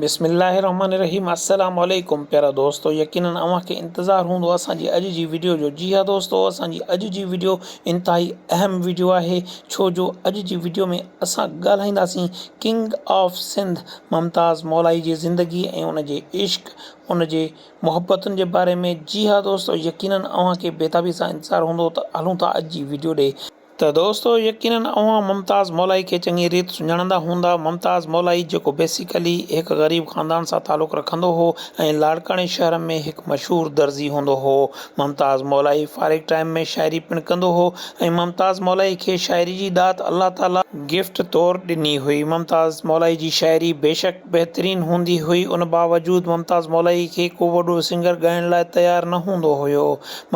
بسم الله الرحمٰن الرحيم السلام عليڪم پيارا دوستو يقينن اوهان کي انتظار هوندو اسان جي اڄ جي وڊيو جو جي ها دوستو اسان جي اڄ جي وڊيو انتهائي اهم وڊيو آهي ڇو جو اڄ جي وڊيو ۾ اسان ڳالهائينداسين ڪنگ آف سنڌ ممتاز مولائي جي زندگي ۽ ان جي عشق ان جي محبتن جي باري ۾ جي ها دوستو يقينن اوهان کي بيتابي سان انتظار هوندو ته هلون ٿا اڄ جي وڊيو ڏي ته دوستو يقينن اوهان ممتاز مولائي کي چڱي ريت سڃاڻندا هوندا، ممتاز مولائي جيڪو بيسيڪلي هڪ غريب خاندان سان تعلق رکندو هو ۽ لاڙڪاڻي شهر ۾ هڪ مشهور درزي هوندو هو. ممتاز مولائي فارغ ٽائيم ۾ شاعري پڻ ڪندو هو ۽ ممتاز مولائي کي شاعري جي ڏات الله تعاليٰ گفٽ طور ڏني هئي. ممتاز مولائي جي شاعري بيشڪ. بهترين هوندي هئي ان باوجود ممتاز مولائي کي ڪو وڏو سنگر ڳائڻ لاء تيار نه هوندو هيو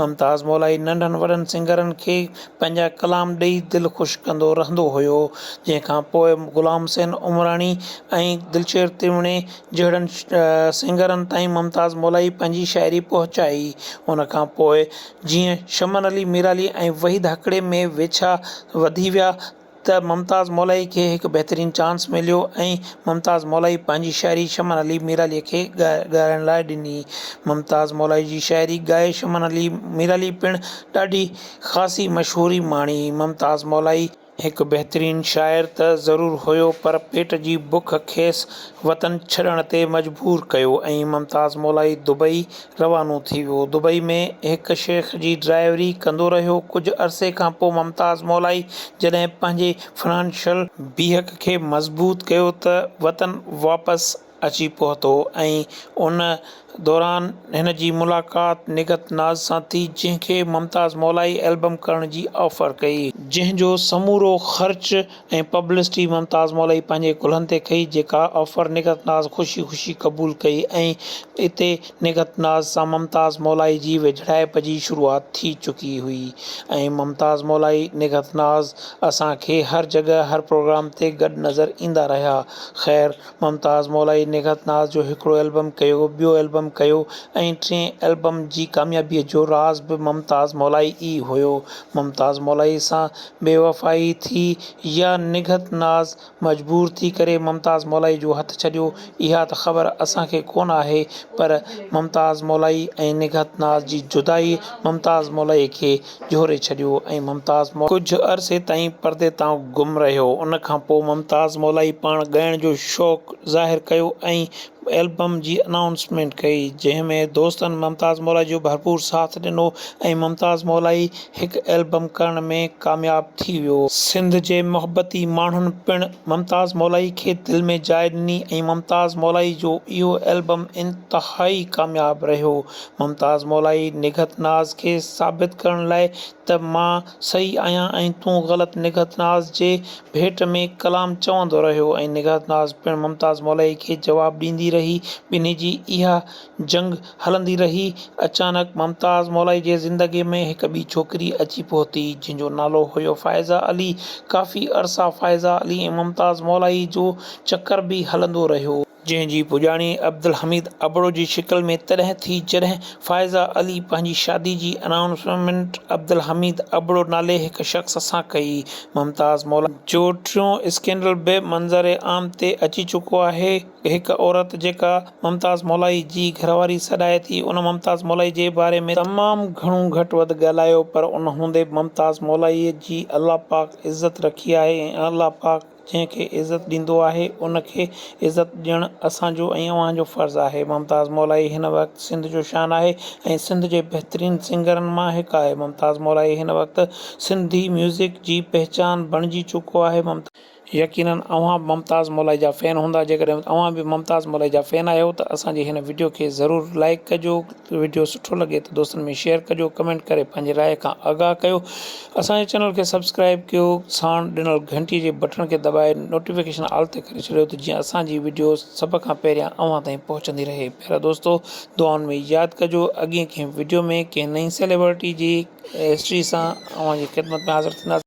ممتاز مولائي ننڍن وڏن سنگرن کي پنهنجا ڪلام ڏئي دل خوش ڪندو رهندو هيو جنهن کان پوء غلام حسين عمراڻي ۽ دلشير تريوڻي جهڙن سنگرن تائين ممتاز مولائي پنهنجي شاعري پهچائي ان کان پوء جيئن شمن علي ميرالي ۽ وحيد هڪڙي ۾ ويڇا وڌي ويا ته ممتاز مولائي کي هڪ بهترين چانس مليو ۽ ممتاز مولائي پنهنجي شاعري شمن علي ميرعليء کي ڳائڻ لاء ڏني. ممتاز مولائي جي شاعري ڳائي شمن علي ميرعلي پڻ ڏاڍي خاصي مشهوري ماڻي. ممتاز مولائي. هڪ بهترين شاعر ته ضرور هيو پر پيٽ جي بک کيس وطن ڇڏڻ تي مجبور ڪيو ۽ ممتاز مولائي دبئي، روانو ٿي ويو. دبئي ۾ هڪ شيخ جي ڊرائيوري ڪندو رهيو. ڪجهه عرصي کان پوء ممتاز مولائي جڏهن پنهنجي فنانشل. بيهڪ کي مضبوط ڪيو ته وطن واپس اچي پهتو ۽ ان دوران هن جي ملاقات نگهت ناز سان ٿي جنهن کي ممتاز مولائي البم ڪرڻ جي آفر ڪئي. جنهن جو سمورو خرچ ۽ پبلسٽي ممتاز مولوي پنهنجي ڪلهن تي ڪئي جيڪا آفر نگهت ناز خوشي خوشي قبول ڪئي ۽ اتي نگهت ناز سان ممتاز مولائي جي ويجهڙائپ جي شروعات ٿي چڪي هئي ۽ ممتاز مولائي نگهت ناز اسان کي هر جڳهه هر پروگرام تي گڏ نظر ايندا رهيا خير ممتاز مولائي نگهت ناز جو هڪڙو البم ڪيو ٻيو البم ڪيو ۽ ٽئين البم جي ڪاميابي جو راز به ممتاز مولائي ئي هيو ممتاز مولائي سان بيوفائي ٿي يا نگهت ناز مجبور ٿي ڪري ممتاز مولائي جو هٿ ڇڏيو اها ته خبر اسان کي ڪونه آهي پر ممتاز مولائي ۽ نگهت ناز جي جدائي ممتاز مولائي کي جهوري ڇڏيو ۽ ممتاز مولائي ڪجهه عرصي تائين پردي تان گم رهيو ان کان پوء ممتاز مولائي پاڻ ڳائڻ جو شوق ظاهر ڪيو ۽ البم جي انائونسمينٽ ڪئي جنهن ۾ دوستن ممتاز مولائي جو ڀرپور ساٿ ڏنو ۽ ممتاز مولائي هڪ البم ڪرڻ ۾ ڪامياب ٿي ويو. سنڌ جي محبتي ماڻهن پڻ ممتاز مولائي کي دل ۾ جاء ڏني ۽ ممتاز مولائي جو اهو البم انتهائي ڪامياب رهيو. ممتاز مولائي نگهت ناز کي ثابت ڪرڻ لاء ته مان صحيح آهيان ۽ تون غلط نگهت ناز جي ڀيٽ ۾ ڪلام چوندو رهيو ۽ نگهت ناز پڻ ممتاز مولئي کي جواب ڏيندي رهي ٻنهي جي اها جنگ هلندي رهي اچانڪ ممتاز مولئي جي زندگي ۾ هڪ ٻي ڇوڪري اچي پهتي جنهن جو نالو هيو فائزه علي ڪافي عرصا فائزه علي ۽ ممتاز مولئي جو چڪر به هلندو رهيو. جنهن جي پڄاڻي عبدالحميد ابڙو جي شڪل ۾ تڏهن ٿي جڏهن فائزه علي پنهنجي شادي جي انائونسمينٽ عبدالحميد ابڙو نالي هڪ شخص سان ڪئي ممتاز مولانا جو ٽيون اسڪينڊل به منظر عام تي اچي چڪو آهي هڪ عورت جيڪا ممتاز مولائي جي گهرواري سڏائي ٿي ان ممتاز مولائي جي باري ۾ تمام گهڻو گهٽ وڌ ڳالهايو پر ان هوندي به ممتاز مولائي جي الله پاڪ عزت رکي آهي ۽ الله پاڪ. جنهن کي عزت ڏيندو آهي ان کي عزت ڏيڻ اسان جو ۽ اوهان جو فرض آهي ممتاز مولائي هن وقت سنڌ جو شان آهي ۽ سنڌ جي بهترين سنگرن مان هڪ آهي ممتاز مولائي هن وقت سنڌي ميوزڪ جي پهچان بڻجي چڪو آهي ممتاز يقينن اوهان به ممتاز مولائي جا فين هوندا جيڪڏهن اوهان به ممتاز مولائي جا فين آهيو ته اسان جي هن وڊيو کي ضرور لائيڪ ڪجو وڊيو سٺو لڳي ته دوستن ۾ شيئر ڪجو ڪمينٽ ڪري پنهنجي راء کان آگاهه ڪيو اسان جي چينل کي سبسڪرائب ڪيو ساڻ ڏنل گهنٽي جي بٽڻ کي دٻائي نوٽيفڪيشن آل تي ڪري ڇڏيو ته جيئن اسان جي وڊيوز سڀ کان پهريان اوهان تائين پهچندي رهي پيارا دوستو دعائن ۾ ياد ڪجو اڳين ڪنهن وڊيو ۾ ڪنهن نئين سيليبرٽي جي هسٽري سان اوهان جي خدمت ۾ حاضر ٿينداسين.